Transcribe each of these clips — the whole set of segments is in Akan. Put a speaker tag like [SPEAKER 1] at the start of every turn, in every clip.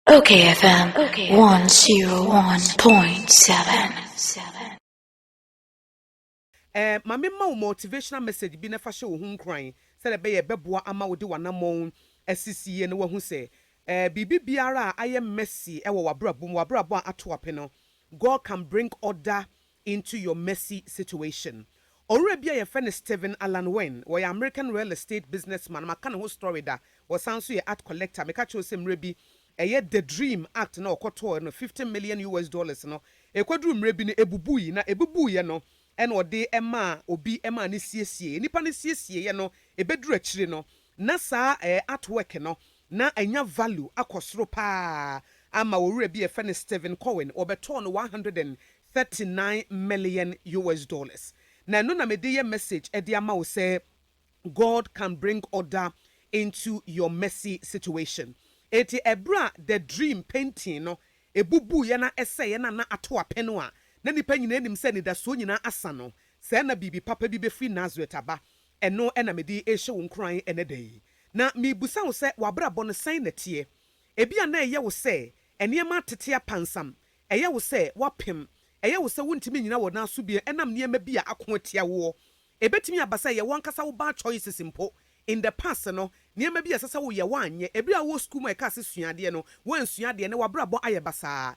[SPEAKER 1] Okay FM
[SPEAKER 2] 101.7 Eh, ma me ma wo motivational message bi na fa hyɛ wo ho nkuran sɛdeɛ ɛbɛyɛ ɛbɛboa ama wode w'anammɔn asisi yie na woahu sɛ eh, biribi biara a ayɛ messy wɔ w'abrabɔ mu, w'abrabɔ a ato ape no, God can bring order Into Your Messy Situation. Ɔwura bi a yɛfrɛ no Stephen Allan Wynn, ɔyɛ American real estate businessman, maka ne ho story da, ɔsan nso yɛ art collector, meka kyerɛ wo sɛ mmerɛ bi ɛyɛ The Dream Act no a ɔkɔtɔɔɛ no, fifty million US dollars no, ɛkɔduruu mmerɛ bi no ɛbubui, na ɛbubuiɛ no na ɔde maa obi maa no siesieeɛ, nipa no siesieeɛ no ɛbɛduru akyire no na saa art work no Na anya value akɔ soro paa ama owura bi a yɛfrɛ no Steven Cohen, wɔbɛtɔɔ no one hundred and thirty nine million US dollars. Na ɛno na mede yɛ message ɛde ama wo sɛ God can bring order into your messy situation. Enti ɛberɛ a the dream painting no ɛbubuiɛ na ɛsɛeɛ na na ato apɛno a na nnipa nyinaa nim sɛ anidasoɔ nyinaa asa no, sɛɛ na biribi papa bi bɛfiri Nazareth aba. Ɛno na mede rehyɛ wo nkuran ɛnnɛ da yi, na merebisa wo sɛ w'abrabɔ no sɛn na ɛteɛ? Ebia na ɛyɛ wo sɛ nneɛma atete apansam, ɛyɛ wo sɛ woapem, ɛyɛ wo sɛ wontumi nnyina wo nan so bio ɛnam nneɛma bi a ako atia woɔ. Ɛbɛtumi aba sɛ ɛyɛ w'ankasa wo bad choices mpo. In the past no, nneɛma bi a ɛsɛ sɛ woyɛ woanyɛ. Bere a wowɔ sukuu mu a yɛka sɛ sua adeɛ no, woansua adeɛ na w'abrabɔ ayɛ basaa.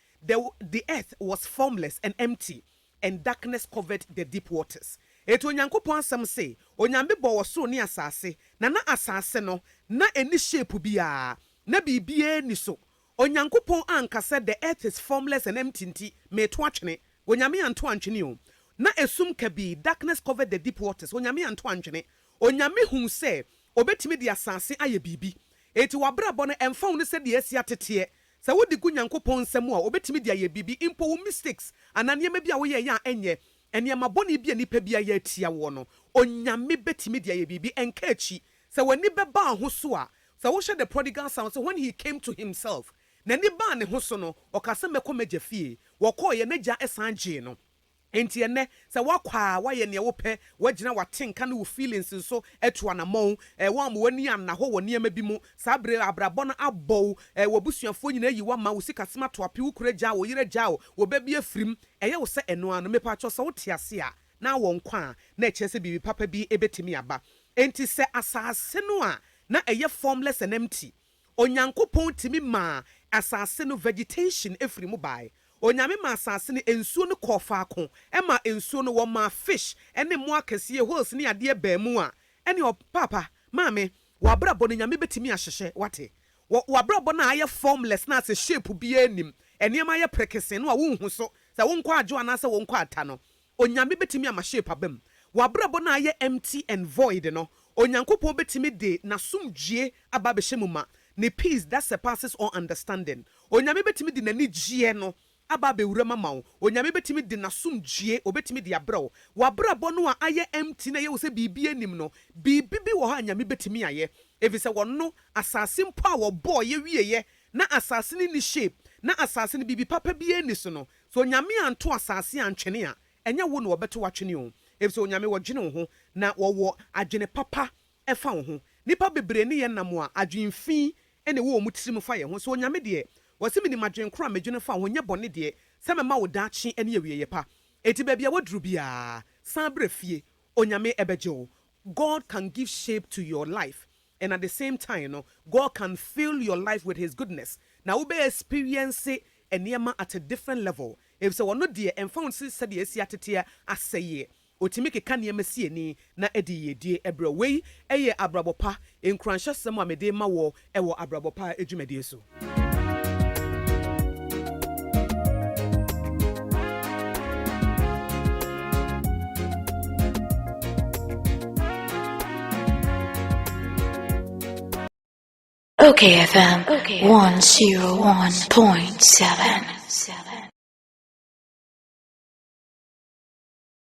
[SPEAKER 2] The the earth was formless and empty, and darkness covered the deep waters. Enti Onyankopɔn Asɛm se, Onyame bɔɔ ɔsoro ne asase, na na asase no, na enni shape biara, na biribiara nni so. Onyankopɔn anka sɛ, The earth is formless and empty nti, mereto atwene. Onyame anto antwene o. Na esum kabii, darkness covered the deep waters, Onyame anto antwene. Onyame huu sɛ Obetumi de asase ayɛ biribi. Enti w'abrabɔ no, ɛmfa ho ne sɛdeɛ asi ateteɛ, Sɛ wode gu Nyankopɔn nsa mu a, obetumi de ayɛ biribi, mpo wo mistakes anaa nneɛma bi a woyɛe a ɛnyɛ nneɛma bɔne bi a nnipa bi ayɛ atia woɔ no, Onyame betumi de ayɛ biribi. Ɛnka akyi. Sɛ w'ani bɛba aho so a, sɛ wohyɛ The Prodigal Son sɛ when he came to himself, n'ani baa ne ho so no, ɔkaa sɛ, Mɛkɔ m'agya fie. Wɔkɔeɛ, n'agya san gyee no. Enti ɛnnɛ, sɛ woakɔ a, woayɛ nea wopɛ, woagyina w'atenka ne wo feelings so atu anammɔn, eh, woamma w'ani anna hɔ wɔ nneɛma bi mu, saa bere a abrabɔ no abɔ wo, eh, w'abusuafoɔ nyinaa ayi wo ama, wo sikasɛm ato ape, wo kunu agyaa wo, wo yere agyaa wo, wo ba bi afirim, ɛyɛ wo sɛ ɛno ara no. Mepakyɛw, sɛ wote ase a na awɔ nkwa a, na ɛkyerɛ sɛ biribi papa bi betumi aba. Enti sɛ asase no a na ɛyɛ formless and empty, Onyankopɔn tumi maa asase no vegetation firi mu bae. Onyame maa asase no nsuo no kɔɔ faako, ɛmaa nsuo no wɔmaa fish ne mmoa akɛseɛ, whales ne adeɛ baa mu a, ɛne ɔ, paapa, maame, w'abrabɔ no Nyame bɛtumi ahyehyɛ, wate? Wɔ, w'abrabɔ no a ayɛ formless no a sɛ shape biara nnim, nneɛma ayɛ prekesee no a wonhu so, sɛ wonkɔ adwo anaasɛ wonkɔ ata no, Onyame bɛtumi ama shape aba mu. W'abrabɔ no a ayɛ empty and void no, Onyankopɔn bɛtumi de N'asomdwie aba abɛhyɛ mu ma, Ne peace that surpasses all understanding. Onyame bɛtumi de N'anigyeɛ no aba abɛwura mu ama wo. Onyame bɛtumi de N'asomdwie, Obɛtumi de abrɛ wo. W'abrabɔ no a ayɛ empty na ɛyɛ wo sɛ biribiara nnim no, biribi bi wɔ hɔ a Nyame bɛtumi ayɛ. Ɛfiri sɛ Ɔno, asase mpo a Ɔbɔɔeɛ wieeɛ, na asase no nni shape, na asase no biribi papa biara nni so no, Sɛ Onyame anto asase antwene a, ɛnyɛ wo na wɔbɛto wo atwene o, efisɛ Onyame wɔdwene wo ho, na wɔwɔ adwene papa fa wo ho. Nnipa bebree ne yɛn nam a, adwene fi na ɛwɔ wɔn tirim fa yɛn ho. Sɛ Onyame deɛ, Ɔse, Menim adwene korɔ a medwene fa wo ho, nyɛ bɔne deɛ, sɛ mɛma wo daakye ne awieɛ pa. Enti baabi a waduru biara, san brɛ fie, Onyame bɛgye wo. God can give shape to your life and at the same time no God can fill your life with his goodness na wo bɛ experience nneɛma at a different level efisɛ ɔno deɛ ɛnfa ho sɛ sɛdeɛ asi ateteɛ asɛeɛ ɔtumi keka nneɛma si ani na ɛde yiedie brɛ wo. Wei yɛ abrabɔ pa nkuranhyɛsɛm a mede rema woɔ wɔ abrabɔ pa dwumadie so.
[SPEAKER 1] OKFM 101.7